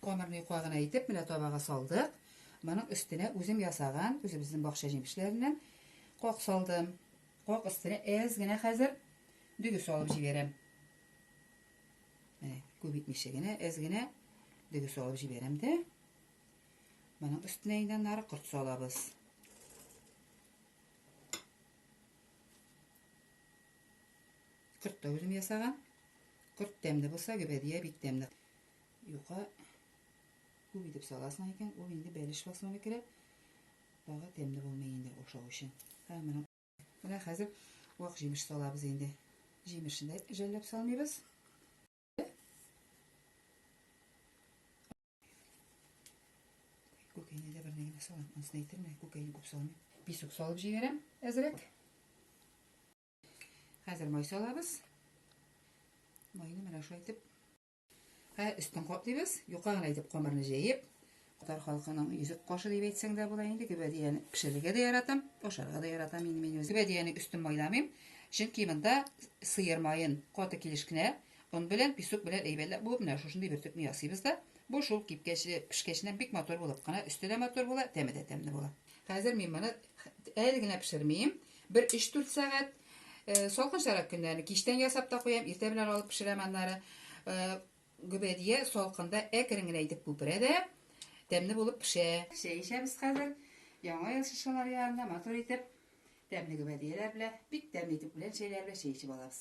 Камырны юка гына итеп, менә табага салдык. Моның өстенә үзем ясаган, үзебезнең бакча җимешләреннән кок салдым. Кок өстенә әз генә хәзер дөге салып җибәрәм. Менә күп итмичә генә, әз генә дөге салып җибәрәм дә. Моның өстенә инде аннары корт салабыз. Корт та үзем ясаган. Корт тәмле булса, гөбәдия бик тәмле. Юка күп итеп саласың икән, ул инде бәлеш фасоны керә. Тагы тәмле булмый инде ашау өчен. Һәм менә менә хәзер вак җимеш салабыз инде. Җимешне жәлләп салмыйбыз. Күкәйне дә бернеге дә салам. Ансын әйтермә, күкәйне күп салмыйм. Писүк салып җигәрәм әзрәк. Хәзер май салабыз. Майны менә шулай итеп. Һә өстен каплыйбыз. Юка гына итеп камырны җәеп, Татар халкының йөзек кашы дип әйтсәң дә була инде. Гөбәдияне пешерергә дә яратам, ашарга да яратам инде мин үзем. Гөбәдияне өстен майламыйм, чөнки монда сыер маен каты килеш кенә он белән, песок белән әйбәтләп буып, менә шушындый бер төпне ясыйбыз да, бу шул кипкәч, пешкәченнән бик матур булып кына, өсте дә матур була, тәме дә тәмле була. Хәзер мин моны әле генә пешермим, бер 3-4 сәгать э, салкынчарак көннәрне кичтән ясап та куям, иртә белән алып пешерәм аннары. Э, Гөбәдия салкында әкрен генә итеп күперә дә, тәмле булып пешә. Чәй эчәбез хәзер. Яңа ел шыршылары янында матур итеп, тәмле гөбәдияләр белә, бик тәмле итеп үлән чәйләре белә чәй эчеп алабыз.